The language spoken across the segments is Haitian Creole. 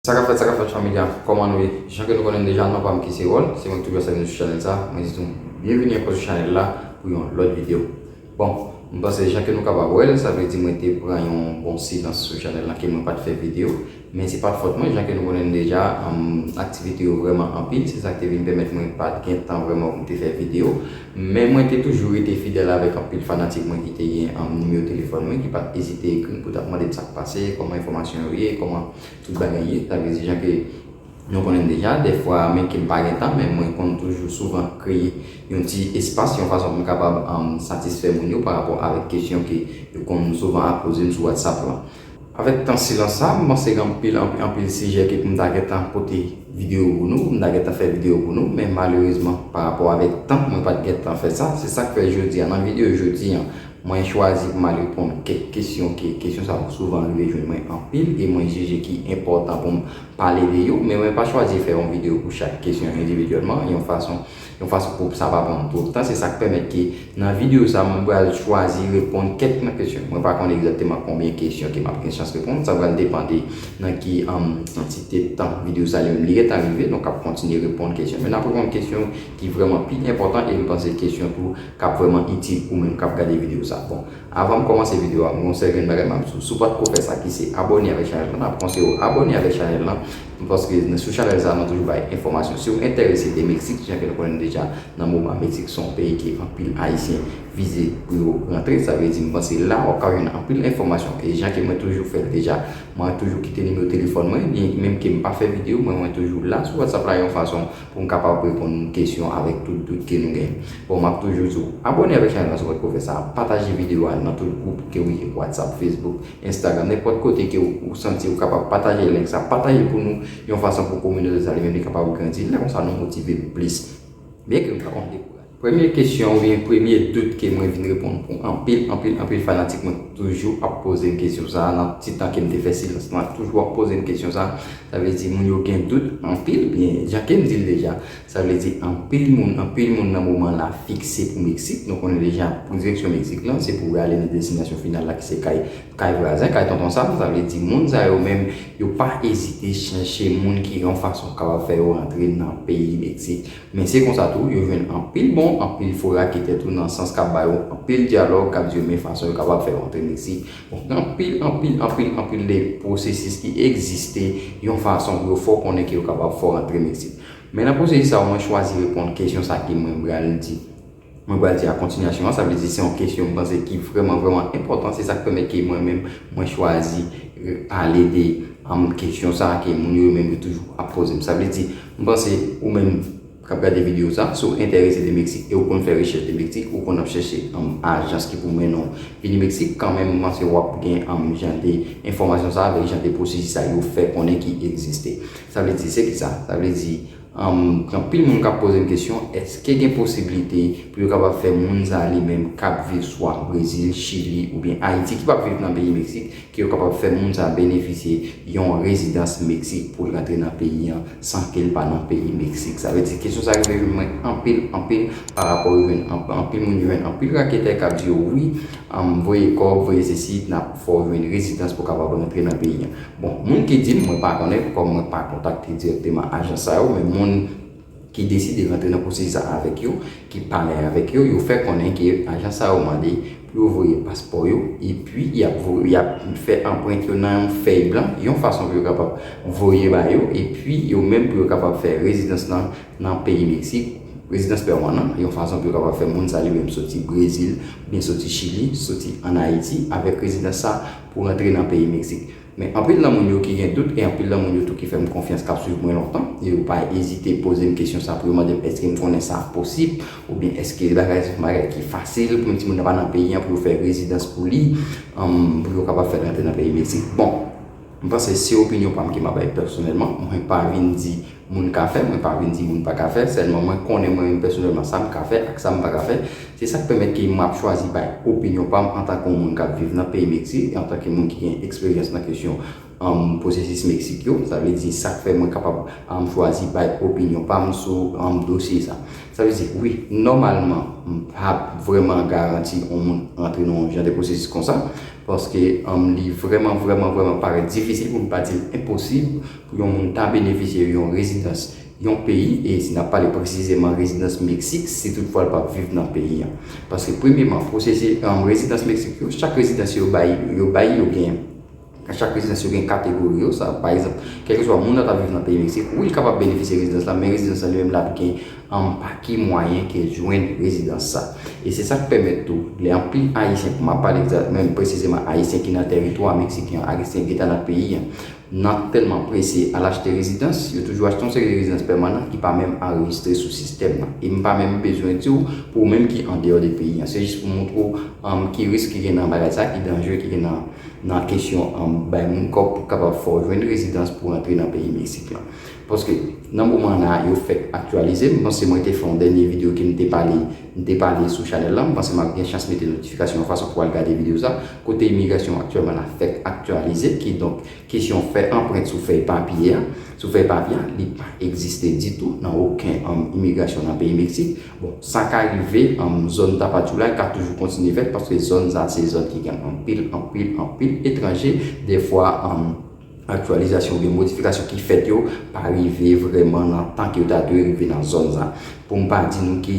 Sa kap fèt sa kap fèt fanmi a kòman nou ye jan ke nou konnenm deja non pam ki se Ron si se mwen ki toujou avsèk nou sou chanèl sa mwen di nou byenvini ankò sou chanèl la pou yon lòt video bon m panse jan ke nou kapab wèl sa vle di mwen te pran yon bon silans sou chanèl la ke mwen pat fè video men se pat fòt mwen jan ke nou konnenm deja aktivite yo vrèman anpil se sak te vin pèmèt mwen pat gen tan vrèman pou m te fè video men mwen te toujou rete fidèl avèk anpil fanatik mwen ki te gen nimewo telefòn mwen ki pat ezite ekrim pou tap mandem sak pase kòman enfòmasyon yo ye kòman Tout bagay ye, sa vle di jan ke nou konnen deja, dèfwa men ke m pa gen tan, men mwen konn toujou souvan kreye yon ti espas yon fason pou m kapab satisfè moun yo parapò avèk kesyon ke yo konn souvan ap poze m sou WhatsApp lan. Avèk tan silans sa, m panse gen anpil, anpil, anpil sijè ke pou m ta gen tan pote videyo pou nou, pou m ta gen tan fè videyo pou nou, men malerezman parapò avèk tan mwen pa t gen tan fè sa, se sa k fè jodi a nan videyo jodi an. Mwen chwazi pou m al reponn kèk kesyon ke kesyon sa yo souvan rive jwenn mwen anpil e mwen jije ki enpòtan pou m pale de yo. Men mwen pa chwazi fè yon videyo pou chak kesyon endividyèlman yon fason yon fason pou sa pa pran twòp tan. Se sa k pèmèt ke nan videyo sa mwen pral chwazi reponn kèk nan kesyon. Mwen pa konn egzakteman konbyen kesyon ke m ap gen chans reponn. Sa pral depan de nan ki kantite tan videyo sa li menm li gentan rive. Donk ap kontinye reponn kesyon. Men n ap reponn kesyon ki vrèman pi enpòtan e m panse kesyon tou kap vrèman itil ou menm kap gade video sa bon avanm kòmanse video a gon sèl grenn bagay map diw si w patko fè sa ki se abòne avèk chanèl lan map konseye w abòne avèk chanèl lan paske sou chanèl sa nou toujou bay enfòmasyon siw entèrese de mexique jan ke nou konnen deja nan moman mexique son peyi ke anpil ayisyen vize pou yo rantre sa vle di m panse la wap ka jwenn anpil enfòmasyon e jan ke mwen toujou fèl deja mwen toujou kite nimewo telefòn mwen byen menm ke m pa fè video mwen mwen toujou la sou whatsapp la yon fason pou m kapab reponn kesyon avèk tout dout ke nou gen. Bon map toujou di w, abone avèk chanèl la sou Potko fè sa, pataje video a nan tout gwoup ke w ye, WhatsApp, Facebook, Instagram, nenpòt kote ke w santi w kapab pataje link sa, pataje pou nou yon fason pou kominote sa li menm li kapab grandi, lè konsa nou motive plis. Byen ke m pa konn dekouraje. Premye kesyon oubyen premye dout ke mwen vin reponn pou anpil, anpil, anpil fanatik mwen ki toujou ap poze m kesyon sa a nan ti tan ke m te fè silans lan, toujou ap poze m kesyon sa a, sa vle di moun yo gen dout anpil byen jan ke m di l deja, sa vle di anpil moun, anpil moun nan moman la fikse pou Meksik, nou konnen deja pou direksyon Meksik lan se pou ale nan destinasyon final la ki se kay, kay vwazen, kay tonton Sam, sa vle di moun sa yo menm yo pa ezite chèche moun ki yon fason kapab fè yo rantre nan peyi Meksik. Men se konsa tou yo jwenn anpil bon, anpil fo raketè tou nan sans kap ba yo anpil dyalòg, kap di yo men fason yo kapab fè yo antre Meksik. Bon, gen anpil, anpil, anpil, anpil de pwosesis ki egziste yon fason pou yo fè w konnen ke yo kapab fè w antre Meksik. Men nan pwosesis sa yo mwen chwazi reponn kesyon sa ke mwen bral di. Mwen pral di a kontinyasyon an, sa vle di se yon kesyon m panse ki vrèman vrèman enpòtan, se sa k pèmèt ke mwen menm mwen chwazi pale de kesyon sa ke moun yo menm yo toujou ap poze m. Sa vle di, m panse ou menm k ap gade videyo sa, si w enterese de Meksik e w konn fè rechèch de Meksik, ou konn ap chèche ajans ki pou mennen w vini Meksik, kanmenm m panse w ap gen jan de enfòmasyon sa avèk jan de pwosesi sa yo fè konnen ki egziste. Sa vle di se kisa? Sa vle di. Gen anpil moun kap pozem kesyon eske gen posiblite pou yo kapab fè moun sa li menm kap viv swa Brezil, Chili oubyen Ayiti ki pap viv nan peyi Meksik ke yo kapab fè moun sa benefisye yon rezidans Meksik poul k antre nan peyi an san kel pa nan peyi Meksik sa vle di kesyon sa rive jwenn mwen anpil anpil pa rapò yo jwenn anpil moun yo jwenn anpil raketè kap di yo wi voye kòb voye sesi nap fè w jwenn rezidans pou kapab rantre nan peyi an. Bon, moun ki di m, mwen pa konnen, kòm mwen pa kontakte dirèkteman ajans sa yo, men moun ki deside rantre nan pwosesis a avèk yo, ki pale avèk yo, yo fè konnen ke ajans sa yo mande pou yo voye paspò yo, epi y ap y ap fè anprent yo nan yon fèy blan, yon fason pou yo kapab voye ba yo, epi yo menm pou yo kapab fè rezidans lan nan peyi Meksik, rezidans pèmanan, yon fason pou yo kapab fè moun sa li menm soti Brezil, oubyen soti Chili, soti an Ayiti, avèk rezidans sa, pou rantre nan peyi Meksik. Men anpil nan moun yo ki gen dout e anpil nan moun yo tou ki fè m konfyans k ap swiv mwen lontan e yo pa ezite poze m kesyon sa pou yo mande m èske m konnen sa posib oubyen èske se bagay son bagay ki fasil pou yon timoun nan pa nan peyi an pou yo fè rezidans pou li pou yo kapab fè l rantre nan peyi Meksik. Bon, m panse se opinyon pa m ke m ap bay pèsonèlman, mwen pa vin di moun ka fè, mwen pa vin di moun pa ka fè, sèlman mwen konnen mwen menm pèsonèlman sa m ka fè ak sa m pa ka fè, se sa k pèmèt ke m ap chwazi bay opinyon pa m antanke yon moun k ap viv nan peyi Meksik e antanke moun ki gen eksperyans nan kesyon pwosesis Meksik yo, sa vle di sa k fè mwen kapab chwazi bay opinyon pa m sou dosye sa. Sa vle di wi, nòmalman m pa vrèman garanti yon moun antre nan yon jan de pwosesis konsa, paske li vrèman vrèman vrèman parèt difisil pou m pa di l enposib, Pou yon moun ta benefisye yon rezidans yon peyi, e si n ap pale presizeman rezidans Meksik, si tout fwa l pa viv nan peyi an. Paske premyeman, pwosesi rezidans Meksik yo, chak rezidans yo bay, yo bay yo gen, chak rezidans yo gen kategori yo, sa pa egzanp, kèlkeswa moun nan ta viv nan peyi Meksik, wi l kapab benefisye rezidans la, men rezidans la li menm l ap gen pa ki mwayen ke l jwenn rezidans sa. E se sa k pèmèt tou, lè anpil Ayisyen, m ap pale menm presizeman Ayisyen ki nan teritwa Meksiken an, Ayisyen ki ta nan peyi an, Nan tèlman prese al achte rezidans, yo toujou achte yon seri de rezidans pèmanan ki pa menm anrejistre sou sistèm nan. E m pa menm bezwen di w pou ou menm ki andeyò de peyi an. Se jis pou m montre w ki risk ki gen nan bagay sa, ki danje ki gen nan kesyon bay moun kòb pou kapab fè w jwenn rezidans pou rantre nan peyi Meksik lan. Paske nan moman la a, yo fèk aktyalize. M panse mwen te fè yon dènye videyo ke m te pale, m te pale sou chanèl la. M panse m ap gen chans mete notifikasyon an fason pou w al gade videyo sa. kote imigrasyon aktyèlman la fèk aktyalize, kidonk kesyon fè anprent sou fèy papye a, sou fèy papye a, li pa egziste ditou nan oken imigrasyon nan peyi Meksik. Bon, sa ka rive, zòn Tapachula ka toujou kontinye fèt paske zòn sa a se zòn ki gen anpil, anpil, anpil etranje, dèfwa, Aktyalizasyon oubyen modifikasyon ki fèt yo pa rive vrèman nan tan ke yo ta dwe rive nan zòn sa. Pou m pa di nou ke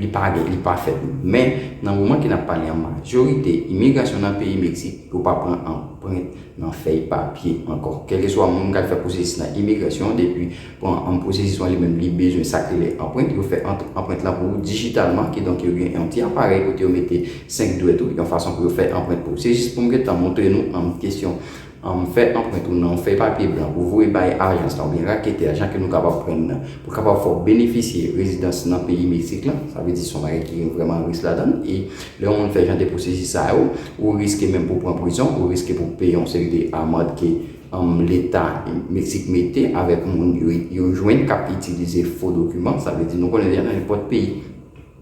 li pa gen, li pa fèt. Men, nan moman ke n ap pale an, majorite imigrasyon nan peyi Meksik, yo pa pran anprent nan fèy papye ankò. Kèlkeswa moun k al fè pwosesis nan imigrasyon depi. Pou pwosesis lan li menm li bezwen sa k rele anprent, yo fè anprent lan pou ou dijitalman, kidonk yo gen yon ti aparèy kote yo mete 5 dwèt ou yon fason pou yo fè anprent pou ou. Se jis pou m gentan montre nou anpl kesyon fè anprent ou nan yon fèy papye blan pou voye bay ajans lan oubyen raketè a jan ke nou kapab prann nan pou kapab fè w benefisye rezidans nan peyi Meksik lan, sa vle di se yon bagay ki gen vrèman risk ladan l e lè yon moun fè jan de pwosesis sa yo ou riske menm pou w pran prizon, ou riske pou w peye yon seri de amand ke. Anm leta mexique mete avek moun yo jwenn kap itilize fo dokiman sa vle di nou konnen deja nan nenpot peyi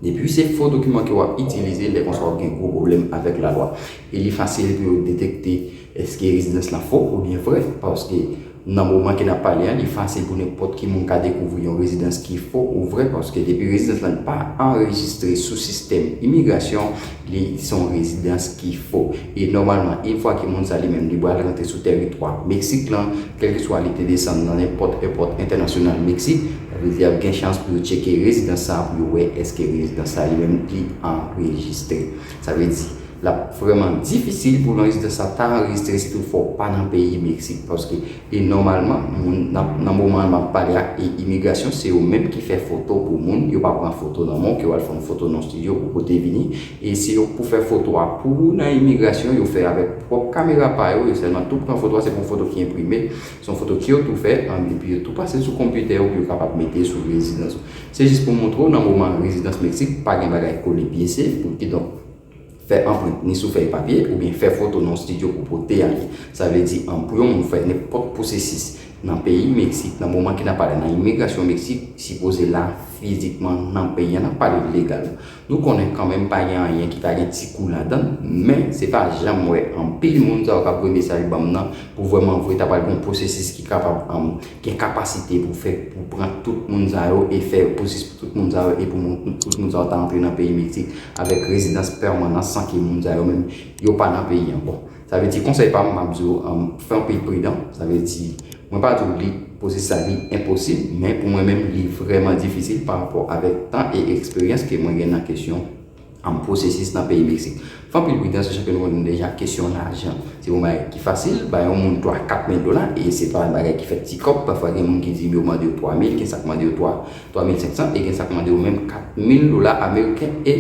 depiw se fo dokiman ke wap itilize lè konsa wap gen gwo pwoblem avek la lwa e li fasil pou yo detekte eske rezidans la fo ou byen vre paske nan moman ke nap pale an li fasil pou nenpot ki moun ka dekouvri yon rezidans ki fo ou vre paske depi rezidans la pa anrejistre sou sistem imigrasyon Li se yon rezidans ki fo. E nòmalman, in fwa ke moun sa li menm li pral rantre sou tèritwa Meksik lan, kèlkeswa li te desann nan nenpòt èpòt entènasyonal Meksik, sa vle di ap gen chans pou yo tcheke rezidans sa pou yo wè èske rezidans sa li menm li anrejistre. Sa vle di, l ap vrèman difisil pou yon rezidans sa ta anrejistre si toutfwa ou pa nan peyi Meksik paske E nòmalman moun nan moman map pale a e imigrasyon se yo menm ki fè foto pou moun yo pa pran foto nan menw ke wal fè yon foto nan studio ou pote vini e se yo pou fè foto a pou ou nan imigrasyon yo fè avèk pwòp kamera pa yo yo sèlman tou pran foto a se pa yon foto ki enprime se yon foto kew tou fè an epi yo tou pasel sou konpitè ou pou yo kapab mete sou rezidans ou se jis pou moutrew nan moman rezidans meksik pa gen bagay kole pye se pou kidonk Fè anprint ni sou fèy papye oubyen fè foto nan yon stidyo pou pote ale. Sa vle di an pou yon moun fè nenpòt pwosesis nan peyi Meksik nan moman ke nap pale nan imigrasyon Meksik sipoze la fizikman nan peyi an nap pale legal. Nou konnen kanmenm pa gen anyen ki ta gen ti kou ladann men se pa janm wè anpil moun sa yo kap voye mesaj banm nan pou vrèman vre ta pral gen yon pwosesis ki kapab gen kapasite pou fè pou pran tout moun sa yo e fè repoussis pou tout moun sa yo e pou tout moun sa yo ta antre nan peyi Meksik avèk rezidans pèmanan san ke moun sa yo menm yo pa nan peyi an. Bon, sa vle di konsèy pa m m ap di w fè anpil pridan, sa vle di mwen pa di w li posis sa li enposib men pou mwen menm li vrèman difisil pa rapò avèk tan e eksperyans ke mwen gen nan kesyon Anm pwosesis nan peyi Meksik. Fè anpil pridans sou chanpyona mond lan deja kesyon lajan se pa yon bagay ki fasil bay yon moun 3 4 mil dola e se pa yon bagay ki fèt ti kòb pafwa gen moun ki di m yo mande yo 3 mil gen sa k mande yo 3 3 mil 500 e gen sa k mande yo menm 4 mil dola ameriken e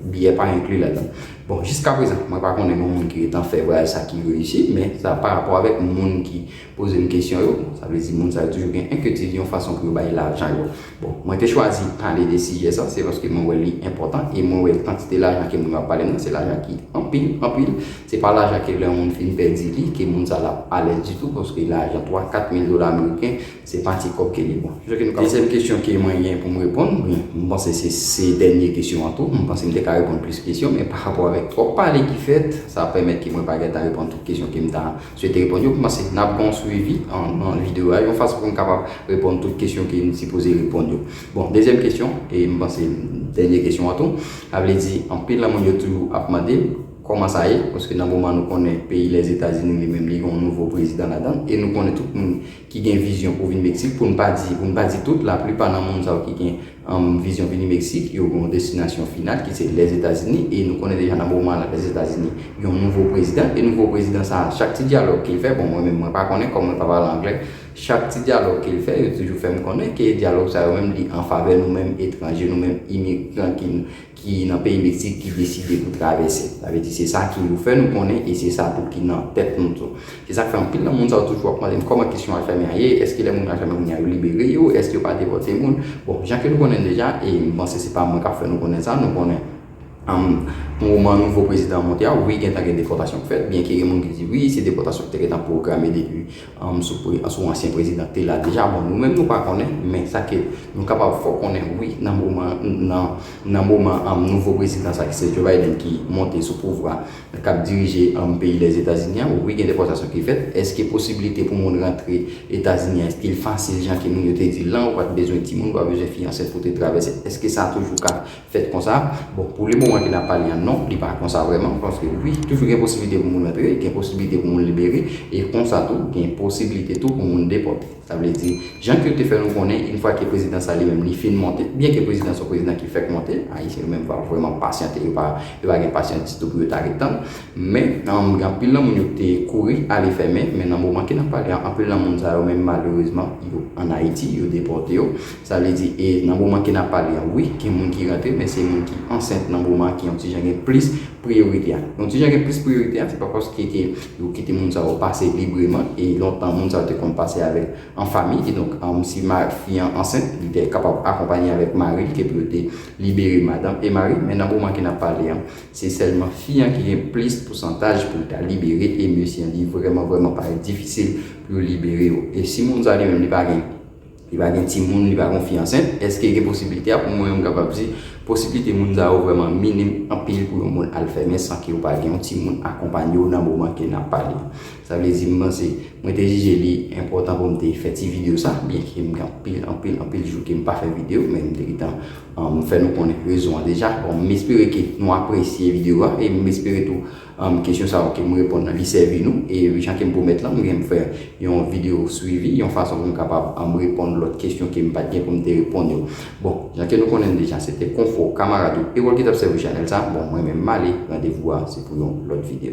biyè pa enkli ladan bon jiskaprezan mwen pa konnen yon moun ki gentan fè vwayaj sa ki reyisi men sa parapò avèk moun ki poze m kesyon yo, sa vle di moun sa yo toujou gen enkyetid yon fason pou yo bay lajan yo. Bon, mwen te chwazi pale de sijè sa, se paske mwen wè li enpòtan e mwen wè kantite lajan ke moun yo ap pale nan, se lajan ki anpil, anpil. Se pa lajan ke lè yon moun fin pèdi li, ke moun sa l ap alèz ditou, paske lajan 3, 4 mil dola ameriken, se pa ti kòb ke li. Bon, se sa ke nou ka. Dezyèm kesyon ke mwen gen pou m reponn, oubyen m panse se se dènye kesyon an tou, m panse m te ka reponn plis kesyon, men parapò avèk twòp pale ki fèt, sa pèmèt ke mwen pa gentan reponn tout kesyon ke m ta Msye te reponn yo, m panse n ap ban w swivi nan videyo a yon fason pou n kapab reponn tout kesyon ke n sipoze reponn yo. Bon, dezyèm kesyon, e m panse dènye kesyon an tou, sa vle di anpil nan moun yo toujou ap mande kòman sa ye, paske nan moman nou konnen peyi Lèzetazini li menm li gen yon nouvo prezidan ladan l, e nou konnen tout moun ki gen vizyon pou vin Meksik, pou n pa di, pou n pa di tout, laplipa nan moun sa yo ki gen vizyon vini Meksik, yo gen yon destinasyon final ki se Lèzetazini, e nou konnen deja nan moman la Lèzetazini gen yon nouvo prezidan, e nouvo prezidan sa a, chak ti dyalòg ke l fè, bon mwen menm mwen pa konnen kòm mwen pa pale anglè, chak ti dyalòg ke l fè, yo toujou fè m konnen ke dyalòg sa yo menm li an favè nou menm etranje, nou menm imigran ki. ki nan peyi Meksik ki deside pou travèse. Sa vle di se sa ke yo fè nou konnen e se sa tou ki nan tèt nou tou. Se sa k fè anpil nan moun sa yo toujou ap mande m kòman kesyon Alfèmen an ye, èske lè moun yo Alfèmen kounya yo libere yo, èske yo pa depòte moun. Bon, jan ke nou konnen deja, e m panse se pa mwen k ap fè nou konnen sa, nou konnen moman nouvo prezidan an monte a, wi gentan gen depòtasyon k fèt, byenke gen moun ki di wi se depòtasyon ki te gentan pwograme depi sou ansyen prezidan te la deja bon nou menm nou pa konnen men sa ke nou kapab fò konnen wi nan moman nan moman nouvo prezidan sa ki se Joe Biden ki monte sou pouvwa kap dirije peyi Lèzetazini an wi gen depòtasyon ki fèt èske posibilite pou moun rantre Etazini an èske l fasil jan ke moun yo te di l lan ou pat bezwen timoun ou pa bezwen fi ansent pou te travèse èske sa toujou ka fèt konsa bon pou le moman ke nap pale an non li pa konsa vrèman paske wi toujou gen posiblite pou moun antre gen posiblite pou moun libere e konsa tou gen posiblite tou pou moun depòte sa vle di jan ke yo te fè nou konnen yn fwa ke prezidan sa li menm li fin monte byen ke prezidan son prezidan ki fèk monte ayisyen yo menm pa vrèman pasyante yo pa yo pa gen pasyans ditou pou yo ta ret tann men nan gen anpil nan moun yo ki te kouri ale fèmen men nan moman ke nap pale an anpil nan moun sa yo menm malerezman yo an ayiti yo depòte yo Sa vle di e nan moman ke nap pale an wi gen moun ki rantre men se moun ki ansent nan moman an ki yon ti jan gen plis priyorite a. Yon ti jan gen plis priyorite a se pa paske ke yo kite moun sa yo pase libreman e lontan moun sa yo te konn pase avèk an fami kidonk si fi an ansent li te kapab akonpanye avèk mari l ke pou yo te libere madanm e mari men nan moman ke nap pale an se sèlman fi an ki gen plis pousantaj pou l ta libere e mesye an li vrèman vrèman parèt difisil pou yo libere yo e si moun sa li menm li pa gen Li pa gen timoun, li pa gen yon fi ansent. Eske gen posiblite a? Pou mwen, m kapab di, posiblite moun sa yo vrèman minim anpil pou yon moun al fèmen san ke ou pa gen yon timoun akonpanye w nan moman ke n ap pale a. Sa vle di, m panse, mwen te jije li enpòtan pou m te fè ti videyo sa, byen ke m gen anpil, anpil, anpil jou ke m pa fè videyo, men m te gentan fè nou konnen rezon an deja. Bon, m espere ke nou apresye videyo a e m espere tou Anm kesyon sa ok m reponn lan li sèvi nou e jan kem pwomèt lan mwen gen pou m fè yon video swivi yon fason pou m kapab anm reponn lòt kesyon kem pat gen pou m te reponn yo bon jan ke nou konnen l deja se te konfo kamarad ou ewòl ki tap sèvi chanèl sa bon mwen menm m ale randevou a se pou yon lòt video.